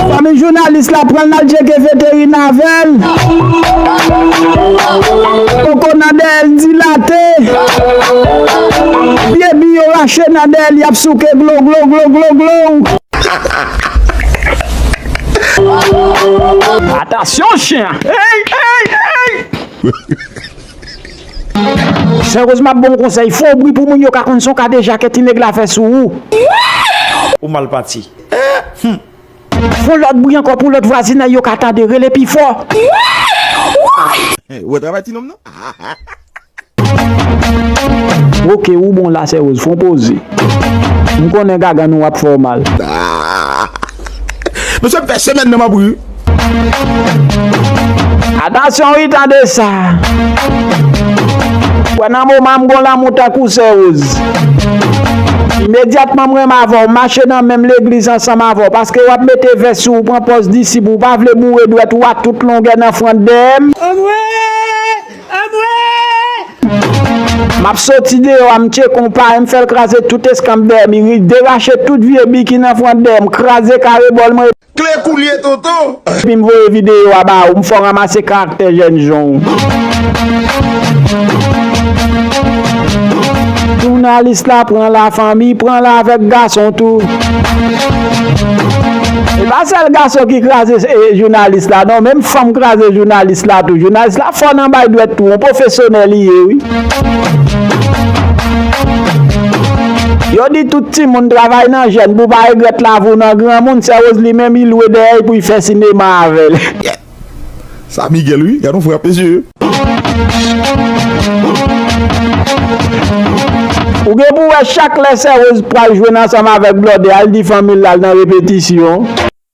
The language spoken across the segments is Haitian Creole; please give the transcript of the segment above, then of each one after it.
Fanmi jounalis la pranl nal tcheke veterina avèl. Koko nan dèyèl dilate. Pye bi yo rache nan dèyèl yap souke glo glo glo glo glo. Atansyon chyen an. Eyy eyy eyy. Sè Rosma bon konsèy, fon bri pou moun yo ka konn son kadejake ti nèg la fè sou ou. Ou mal pati. Humm. Fon lòt bri ankò pou lòt vwazinay yo ka tande, rele pi fò. Ou wè travay ti nonm nan. Ok ou bon la sè Rose, fon poze. M konnen gagann ou ap fè w mal. Mesye m fè semèn nan m ap ri. Atansyon wi tande sa. Kwè nan moman m gon lanmou tankou sè Roz. Imedyatman m renmen avè w, m mache nan menm legliz ansanm avè w paske w ap mete vès sou ou pran pòz disip ou pa vle boure dwèt ou a tout longè nan front dèyè m. Anmwee! Anmwee! M ap soti deyò a m tcheke w pare m fè l kraze tout eskanp dèyè m, ri derache tout vye bi ki nan front dèyè m, kraze kare bòl m rete. Kle kou li ye tonton. Depi m voye videyo a ba ou m fè w ranmase karaktè jèn jan w. Jounalis la pran la fanmi pran la avèk gason tou. E pa sèl gason ki kraze jounalis la non menm fanm kraze jounalis la tou. Jounalis la fò nan bay dwèt tou on pwofesyonè li ye wi. Yo di tout timoun travay nan jèn pou pa regrèt lavi w nan granmoun, sè Rosely menm li lwe dèyèy pou y fè sinema avèl. Sa Miguel wi, gad yon frap mesye. Ou gen pou wè chak lè sè Rose pral jwenn ansanm avèk blòdè al di fanmil lal nan repetisyon.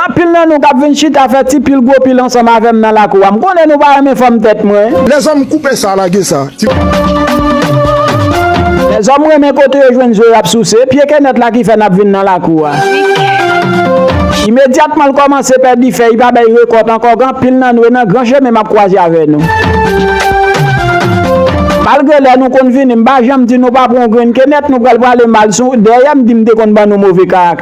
Anpil nan nou kap vin chita fè ti pil gwo pil ansanm avèm nan lakou a m konnen nou pa renmen fòm tèt mwen. Lèzòm koupe sa lage sa ti. Lèzòm renmen kote yo jwenn zo yap souse, pye kenèt la ki fè nap vin nan lakou a. Imedyatman l kòmanse pèdi fèy pa bay rekòt ankò gan pil nan nou e nan gran chemen map kwaze avè nou. Malgre lè nou konn vini m pa janm di nou pa pran yon grenn kenèt nou pral pwale mal sou dèyè m di m te konn ban nou move karaktè.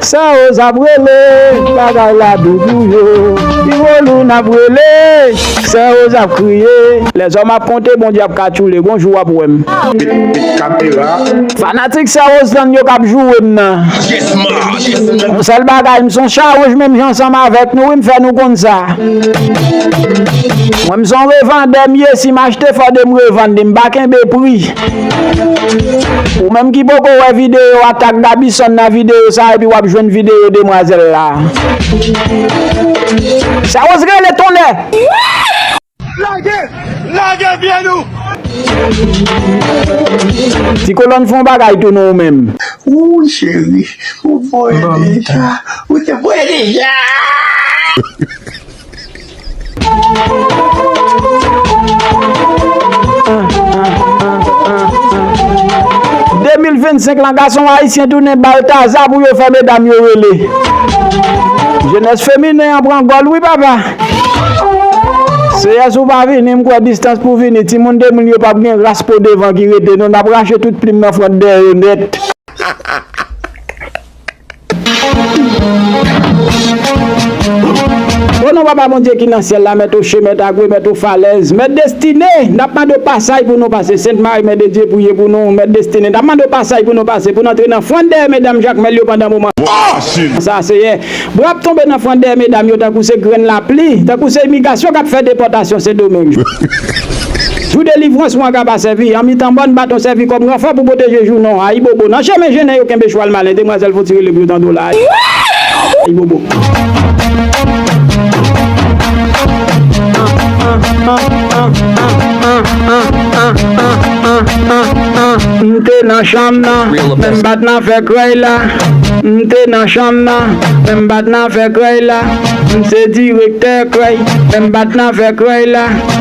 Sa yo zap rele bagay la dou pou yo Pi gwo lou nap rele sè yo zap kriye. Lèzòm ap konte Bondye ap katchoule gon jou wap wèm. Bit bit kapera. Fanatik sè Roselande yo kap joure m nan. Yon sèl bagay m son chawonj menm jan ansanm avèk nou wi m fè nou konn sa. Mwen m son revandè m ye si m achte fòde m revande m pa kenbe pri. Ou menm ki poko wè videyo a tag Gabison nan videyo sa epi wap jwenn videyo demwazèl la. Sa Rose rele tonnè! Lage! Lage vye nou! Ti kolòn fon bagay tou nou ou menm. Ooh cheri ou voye deja. Ou te voye deja! 2025 lan gason ayisyen tounen baltaza pou yo fè medam yo rele jenès feminen an pran gòl wi papa seyè si w pa vini m kwè distans pou vini timoun 2000 yo pap gen ras po devan ki rete non n ap rache tout plim nan front dèyè yo nèt. O non Papa Bondye ki nan syèl la, Mèt oche, Mèt agwe, Mèt ofalèz, Mèt destine, n ap mande w pasay pou nou pase, Sent Mari Mè de Dye priye pou nou, Mèt destine, n ap mande w pasay pou nou pase pou n antre nan fwant dèyè medam Jakmèl yo pandan moman sa a Seyè. Bwa ap tonbe nan fwant dèyè medam yo tankou se grenn lapli, tankou se imigasyon k ap fè depòtasyon Sendomeng. Jou delivrans wan ka pa sèvi an mitan mòn baton sèvi kòm ranfò pou pwoteje jou non ayibobo nan chemen jennen yo kenbe chwal malen demwazèl fon ti rele pou yo tande w la ayibobo.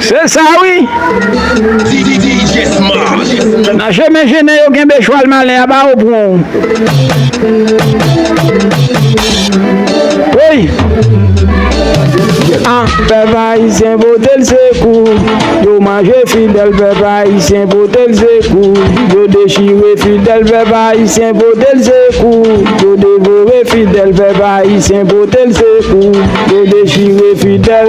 Se sa wi! Nan je men je nen yo genbe chwal malen a ba ou pou ou. Woy! An! Pèp ayisyen vote l se kou. Yo manje fidèl pèp ayisyen. Ayisyen vote l se kou yo dechire fidèl vèv ayisyen vote l se kou yo devore fidèl vèv ayisyen vote l se kou yo dechire fidèl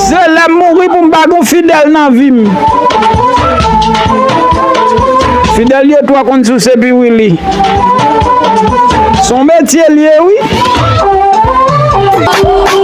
se lè m mouri pou m pa gen w fidèl nan vi m fidèl yo twò konn souse pi wi li s on metye l ye wi.